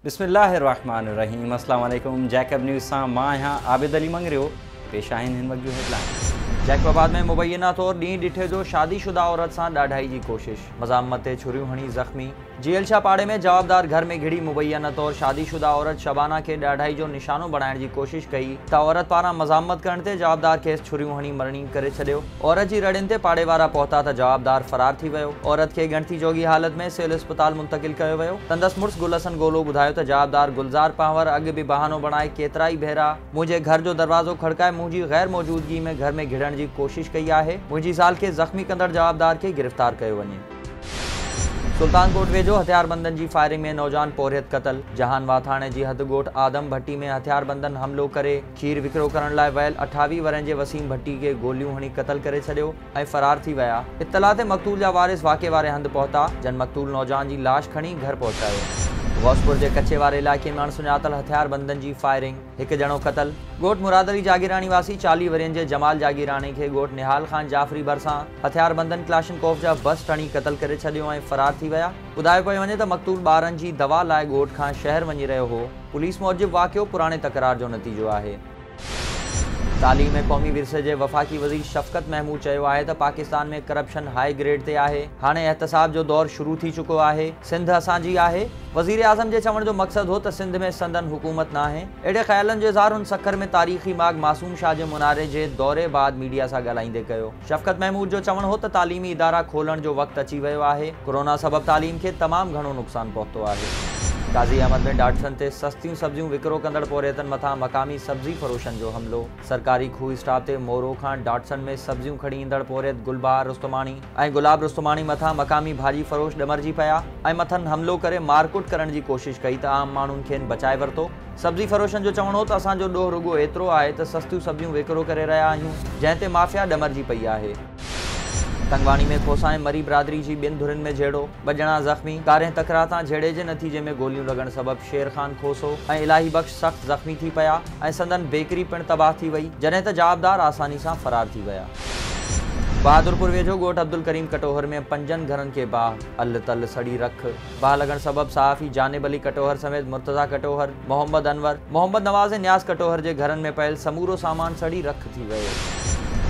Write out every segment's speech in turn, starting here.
بسم الله الرحمٰن الرحيم السلام عليڪم جيڪب نيوز سان مان آهيان عابد علي مڱريو پيش آهن هن وقت جون هيڊلائنز جيڪب آباد ۾ مبينا طور ڏينهن ڏٺي جو شادي شده عورت سان ڏاڍائي جي ڪوشش مزاحمت تي ڇريون هڻي زخمي جيل شاهه پاڙي ۾ جوابدار گهر ۾ گهڙي مبينا طور شادي شده عورت شبانا کي ڏاڍائي جو نشانو بڻائڻ جي ڪوشش ڪئي ته عورت پاران مزاحمت ڪرڻ تي جوابدار کيس ڇريون هڻي مرڻي ڪري ڇڏيو عورت جي رڙين تي پاڙي وارا پهتا ته جوابدار فرار ٿي ويو. عورت کي ڳڻتي جوڳي حالت ۾ سول اسپتال منتقل ڪيو ويو. سندس مڙس گل حسن گولو ٻڌايو ته جوابدار گلزار پنهور اڳ به بهانو بڻائي ڪيترائي ڀيرا منهنجي گهر جو دروازو کڙڪائي منهنجي غير موجودگي ۾ گهر ۾ گهڙڻ جي ڪوشش ڪئي آهي. منهنجي زال کي زخمي ڪندڙ جوابدار کي گرفتار ڪيو وڃي. سلطان ڪوٽ ويجهو هٿياربندن جي فائرنگ ۾ نوجوان پورهيت قتل، جهان واٿاڻي جي حد ڳوٺ آدم ڀٽي ۾ هٿياربندن حملو ڪري، کير وڪرو ڪرڻ لاء ويل اٺاويهه ورهين جي وسيم ڀٽي کي گوليون هڻي قتل ڪري ڇڏيو ۽ فرار ٿي ويا. اطلاع تي مقتول جا وارث واقعي واري هنڌ پهتا، جن مقتول نوجوان جي لاش کڻي گهر پهچايو. غوثپور جي ڪچي واري علائقي ۾ اڻسڃاتل هٿياربندن جي فائرنگ، هڪ ڄڻو قتل. ڳوٺ مراد علي جاگيراڻي واسي چاليهه ورهين جي جمال جاگيراڻي کي ڳوٺ نهال خان جعفري ڀرسان هٿياربندن ڪلاشنڪوف جا بس ٽڻي قتل ڪري ڇڏيو ۽ فرار ٿي ويا. ٻڌايو پيو وڃي ته مقتول ٻارن جي دوا لاء ڳوٺ کان شهر وڃي رهيو هو، پوليس موجب واقعو پراڻي تڪرار جو نتيجو آهي. تعليم ۽ قومي ورثي جي وفاقي وزير شفقت محمود چيو آهي ته پاڪستان ۾ ڪرپشن هاء گريڊ تي آهي، هاڻي احتساب جو دور شروع ٿي چڪو آهي، سنڌ اسان جي آهي. وزيراعظم جي چوڻ جو مقصد هو ته سنڌ ۾ سندن حڪومت ناهي. اهڙي خيالن جو اظهار هن سکر ۾ تاريخي ماڳ معصوم شاهه جي مناري جي دوري بعد ميڊيا سان ڳالهائيندي ڪيو. شفقت محمود جو چوڻ هو ته تعليمي ادارا کولڻ جو وقت اچي ويو آهي، ڪورونا سبب تعليم کي تمام گهڻو نقصان پهتو آهي. قاضي احمد ۾ ڊاٽسن تي سستيون سبزيون وڪرو ڪندڙ پورهيتن مٿان مقامي سبزي فروشن جو حملو، سرڪاري کوهه اسٽاپ تي مورو کان ڊاٽسن ۾ سبزيون کڻي ايندڙ پورهيت گلبهار رستماڻي ۽ گلاب رستماڻي مٿان مقامي ڀاڄي فروش ڏمرجي پيا ۽ مٿن حملو ڪري مارڪٽ ڪرڻ جي ڪوشش ڪئي ته عام ماڻهن کين بچائي ورتو. سبزي فروشن جو چوڻ هو ته اسان جو ڏوهه رڳو ايترو آهي ته سستيون سبزيون وڪرو ڪري رهيا آهيون، جنهن تي مافيا ڏمرجي پئي آهي. تنگواڻي ۾ کوسا ۽ مري برادري جي ٻن ڌرين ۾ جهيڙو، ٻه ڄڻا زخمي، ڪارينهن تڪرار تان جهيڙي جي نتيجي ۾ گوليون لڳڻ سبب شير خان کوسو ۽ الاهي بخش سخت زخمي ٿي پيا ۽ سندن بيڪري پڻ تباهه ٿي وئي، جڏهن ته جوابدار آساني سان فرار ٿي ويا. بهادرپور ويجهو ڳوٺ عبدالڪريم ڪٽوهر ۾ پنجن گهرن کي باهه، الھ تلھ سڙي رک، باهه لڳڻ سبب صحافي جانب علي ڪٽوهر سميت مرتضيٰ ڪٽوهر، محمد انور، محمد نواز ۽ نياز ڪٽوهر جي گهرن ۾ پيل سمورو سامان سڙي رک ٿي ويو.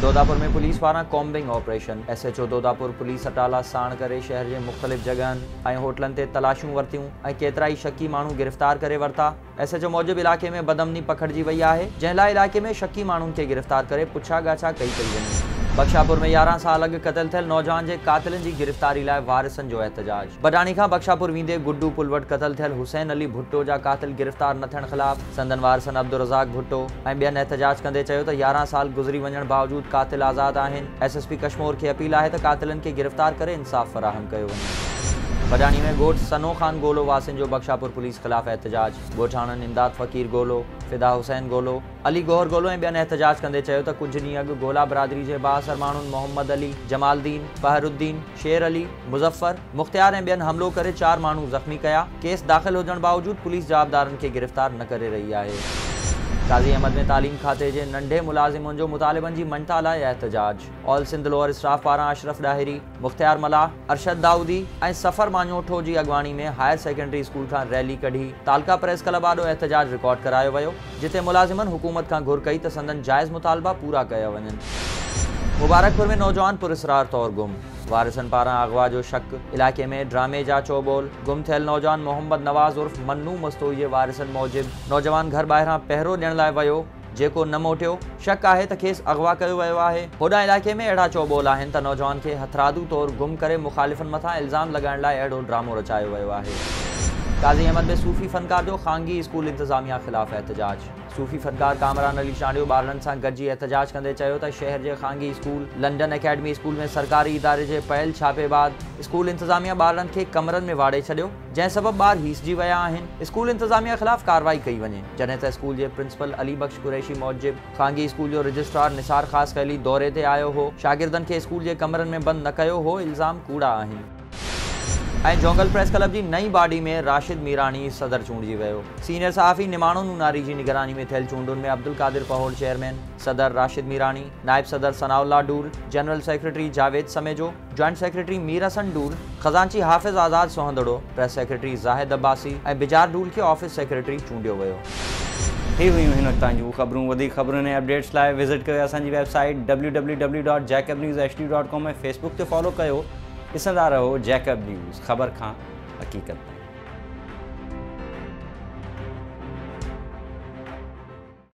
دوداپور ۾ پوليس پاران combing operation, S H O Dodapur police اٽالا ساڻ ڪري شهر جي مختلف جڳهن ۽ هوٽلن تي تلاشيون ورتيون ۽ ڪيترائي شڪي ماڻهو گرفتار ڪري ورتا. ايس ايڇ او موجب علائقي ۾ بدامني پکڙجي وئي آهي جنهن لاء علائقي ۾ شڪي ماڻهن کي گرفتار ڪري پڇا ڳاڇا ڪئي پئي وڃي. بخشاپور ۾ يارهن سال اڳ قتل ٿيل نوجوان جي قاتلن جي گرفتاري لاء وارثن جو احتجاج بڊاڻي کان بخشاپور ويندي گڊو پل وٽ قتل ٿيل حسين علي ڀٽو جا قاتل گرفتار نه ٿيڻ خلاف سندن وارثن عبدالرزاق ڀٽو ۽ ٻين احتجاج ڪندي چيو ته يارهن سال گذري وڃڻ باوجود قاتل آزاد آهن ايس ايس پي ڪشمور کي اپيل آهي ته قاتلن کي گرفتار ڪري انصاف فراهم ڪيو وڃي. بڊاڻي ۾ ڳوٺ سنو خان گولو واسين جو بخشاپور پوليس خلاف احتجاج، ڳوٺاڻن امداد فقير گولو، فدا حسين گولو، علي گوهر گولو ۽ ٻين احتجاج ڪندي چيو ته ڪجهه ڏينهن اڳ گولا برادري جي بااثر ماڻهن محمد علي، جمال دين، پهر الدين، شير علي، مظفر، مختيار ۽ ٻين حملو ڪري چار ماڻهو زخمي ڪيا، ڪيس داخل هجڻ باوجود پوليس جوابدارن کي گرفتار نه ڪري رهي آهي. قاضي احمد ۾ تعليم کاتي جي ننڍي ملازمن جو مطالبن جي مڃتا لاء احتجاج، آل سنڌ لوئر اسٽاف پاران اشرف ڏاهري، مختيار ملاح، ارشد دائودي ۽ سفر ماڃوٺو جي اڳواڻي ۾ هائر سيڪنڊري اسڪول کان ريلي ڪڍي تعلقه پريس ڪلب آڏو احتجاج رڪارڊ ڪرايو ويو. جتي ملازمن حڪومت کان گهر ڪئي ته سندن جائز مطالبا پورا ڪيا وڃن. مبارڪپور ۾ نوجوان پراسرار طور گم، وارثن پاران اغوا جو شڪ، علائقي ۾ ڊرامي جا چئو ٻول، گم ٿيل نوجوان محمد نواز عرف منو مستوئي جي وارثن موجب نوجوان گهر ٻاهران پهرو ڏيڻ لاء ويو جيڪو نه موٽيو، شڪ آهي ته کيس اغوا ڪيو ويو آهي. هوڏانهن علائقي ۾ اهڙا چؤ ٻول آهن ته نوجوان کي هٿرادو طور گم ڪري مخالفن مٿان الزام لڳائڻ لاء اهڙو ڊرامو رچايو ويو آهي. قاضي احمد ۾ صوفي فنڪار جو خانگي اسڪول انتظاميا خلاف احتجاج، صوفي فنڪار ڪامران علي چانڊيو ٻارڙن سان گڏجي احتجاج ڪندي چيو ته شهر جي خانگي اسڪول لنڊن اڪيڊمي اسڪول ۾ سرڪاري اداري جي پيل ڇاپي بعد اسڪول انتظاميا ٻارڙن کي ڪمرن ۾ واڙي ڇڏيو، جنهن سبب ٻار هيسجي ويا آهن، اسڪول انتظاميه خلاف ڪارروائي ڪئي وڃي، جڏهن ته اسڪول جي پرنسپل علي بخش قريشي موجب خانگي اسڪول جو رجسٽرار نثار خاصخيلي دوري تي آيو هو، شاگردن کي اسڪول جي ڪمرن ۾ بند نه ڪيو هو، الزام ڪوڙا آهن. ۽ جهونگل پريس ڪلب جي نئين باڊي ۾ راشد ميراڻي صدر چونڊجي ويو، سينيئر صحافي نماڻو نوناري جي نگراني ۾ ٿيل چونڊن ۾ عبدالقادر پهوڙ چيئرمين، صدر راشد ميراڻي، نائب صدر ثناء الله ڊول، general secretary Javed Samejo, joint secretary Mir حسن ڊول، خزانچي حافظ آزاد سوهندڙو، پريس سيڪريٽري زاهد عباسي ۽ بجار ڊول کي آفيس سيڪريٽري چونڊيو ويو. هي هيون هن وقت تائين جون خبرون وڌيڪ خبرن ۽ اپڊيٽس لاء وزٽ ڪريو اسان جي website W W W dot Jacob news H D dot com ۽ Facebook تي فالو ڪيو ڏسندا رهو جيڪب نيوز خبر کان حقيقت تائين.